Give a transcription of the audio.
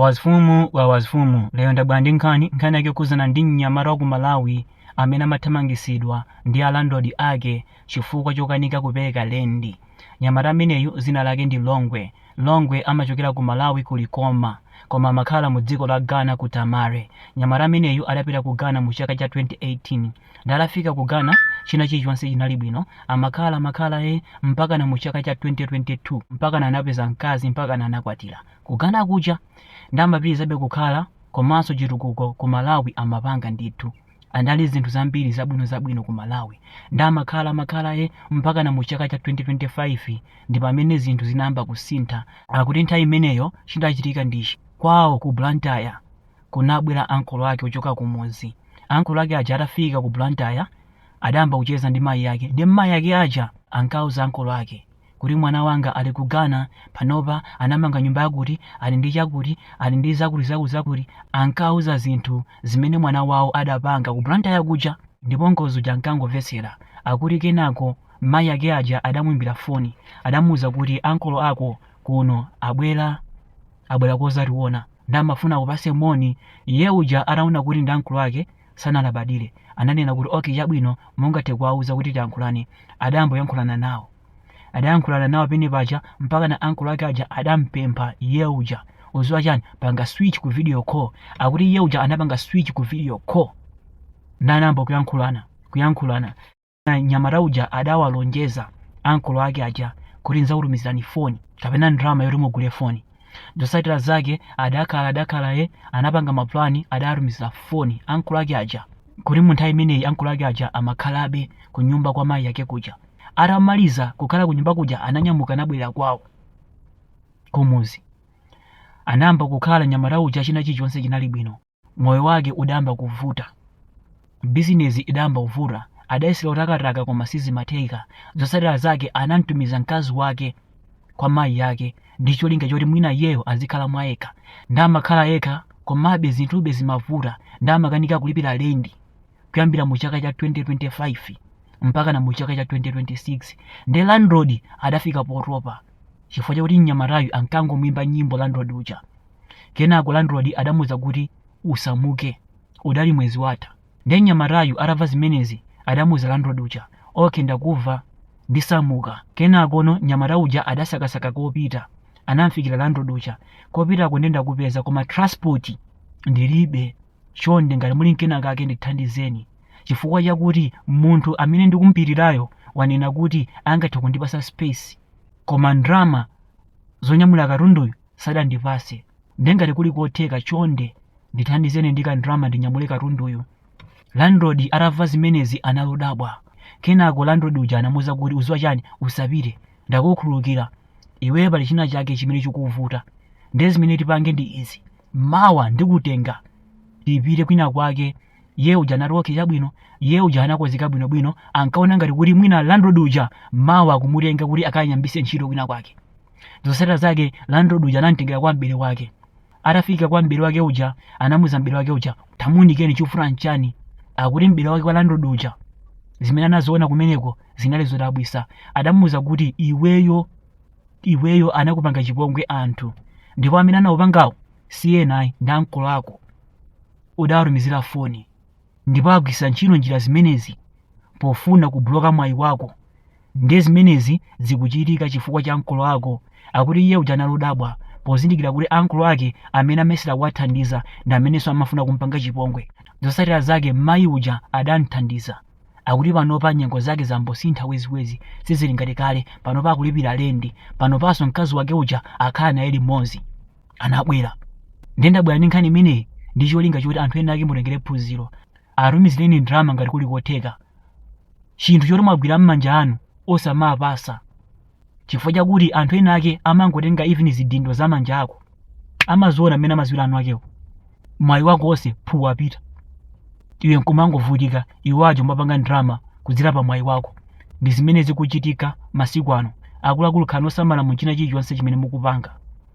Wawazifumu wawazifumu lero ndabwela ndi nkhani, nkhani yake yokhudzana ndi mnyamata wa ku Malawi amene amathamangisidwa ndi a landlord ake chifukwa chokanika kupereka lendi. Mnyamata ameneyu dzina lake ndi Longwe. Longwe amachokera ku Malawi ku Likoma koma amakhala mu dziko la Ghana ku Tamale. Mnyamata ameneyu adapita ku Ghana mu chaka cha 2018. Nde atafika ku Ghana china chilichonse chinali bwino amakhala amakhala ee mpakana mu chaka cha 2022 mpakana anapeza mkazi mpakana anakwatira. Ku Ghana kuja nde amapitirizabe kukhala komanso chitukuko ku Malawi amapanga ndithu anali zinthu zambiri zabwino zabwino ku Malawi nde amakhala amakhala e mpakana mu chaka cha 2025 ndipamene zinthu zinayamba kusintha akuti nthawi imeneyo chidachitika ndi ichi kwawo ku Blantyre kunabwera ankolo ake kuchoka kumudzi ankolo ake aja atafika ku Blantyre adayamba kucheza ndi mayi ake nde mayi ake aja ankawauza ankolo ake kuti mwana wanga ali ku Ghana panopa, anamanga nyumba yakuti, ali ndi chakuti, ali ndi zakuti zakuti zakuti, ankawauza zinthu zimene mwana wawo adapanga ku Blantyre kuja ndipo nkolo uja ankangomvetsera, akuti kenako mayi ake aja adamuimbira foni adamuuza kuti ankolo ako kuno abwera, abwera kozationa nde amafuna akupatse moni, iye uja ataona kuti ndi ankolo ake sanalabadire. Ananena kuti, Ok, chabwino, mungathe kuwauza kuti tiyankhulane. Adayamba kuyankhulana nawo. Adayankhulana nawo pamene paja mpakana uncle ake aja adamupempha iye uja, Udziwa chani? Panga switch ku video call. Akuti iye uja anapanga switch ku video call. Nde anayamba kuyankhulana, kuyankhulana. Nde mnyamata uja adawalonjeza ankolo ake aja kuti ndidzakutumizirani foni kapena ndalama yoti mugule foni. Zotsatira zake adakhala adakhala ee anapanga mapulani adatumizira foni ankolo ake aja akuti munthawi imeneyi ankolo ake aja amakhalabe kunyumba kwa mayi ake kuja. Atamaliza kukhala kunyumba kuja ananyamuka anabwerera kwawo kumudzi. Anayamba kukhala mnyamata uja china chilichonse chinali bwino. moyo wake udayamba kuvuta bizinesi idayamba kuvuta adayesera kutakataka koma sizimatheka zotsatira zake anamtumiza mkazi wake kwa mayi yake ndi cholinga choti mwina iyeyo azikhala mwa yekha ndamakhala yekha komabe zinthube zimavuta ndamakanika kulipira lendi kuyambira mu chaka cha 2025 mpaka na mu chaka cha 2026 nde landlord adafika potopa chifukwa chakuti mnyamatayu ankangomwimba nyimbo landlord uja kenako landlord adamuuza kuti usamuke udali mwezi watha nde mnyamatayu atamva zimenezi adamuuza landlord uja okay ndamva ndisamuka kenakono mnyamata uja adasakasaka kopita anamfikira landlord uja kopitako nde ndakupeza koma transport ndilibe Chonde ngati muli nkenakake ndithandizeni chifukwa chakuti munthu amene ndikumupitirayo wanena kuti angathe kundipasa space koma ndrama zonyamulira katunduyu sadandipase nde ngati kuli kotheka chonde ndithandizeni ndi ka ndrama ndinyamule katunduyu. Landlord atamva zimenezi anali odabwa. Kenako landlord uja anamuuza kuti uziwa chani? Usapite. Ndakukhululukira. Iwe pali china chake chimene chikuvuta. Nde zimene tipange ndi izi. mawa ndikutenga tipite kwina kwake iye uja anati okay chabwino iye uja anakozeka bwinobwino ankaona ngati kuti mwina landlord uja mawa akumutenga kuti akamuyambitse ntchito kwina kwake zotsatira zake landlord uja anamtengera kwa mbere wake atafika kwa mbere wake uja anamuza mbere wake uja tamuunikeni chikuvuta nchani akuti mbere wake kwa landlord uja zimene anaziona kumeneko zinali zodabwitsa adamuza kuti iweyo iweyo anakupanga chipongwe anthu ndipo amene anakupangawo si ena ayi ndi ankolo ako udawatumizira foni ndipo agwiritsa ntchito njira zimenezi pofuna kubloka mwayi wako ndiye zimenezi zikuchitika chifukwa cha ankolo ako akuti iye uja anali odabwa pozindikira kuti ankolo ake amene amayesera kuwathandiza ndi amenenso amafuna kumpanga chipongwe zotsatira zake mayi uja adamthandiza akuti panopa nyengo zake zambosintha weziwezi sizili ngati kale panopa akulipira lendi panopanso mkazi wake uja akhala naye limodzi anabwera ndiye ndabwera ndi nkhani imeneyi ndi cholinga choti anthu ena ake mutengere phunziro atumizireni ndrama ngati kuli kotheka chinthu choti mwagwira m'manja anu osamapasa chifukwa chakuti anthu ena ake amangotenga even zidindo za manja ako amaziona mmene amaziwira eni akewo mwayi wako wonse phu wapita iwe nkumangovutika iwo aja kumapanga ndrama kudzera pa mwayi wako ndi zimene zikuchitika masiku ano akuluakulu khalani osamala mu china chilichonse chimene mukupanga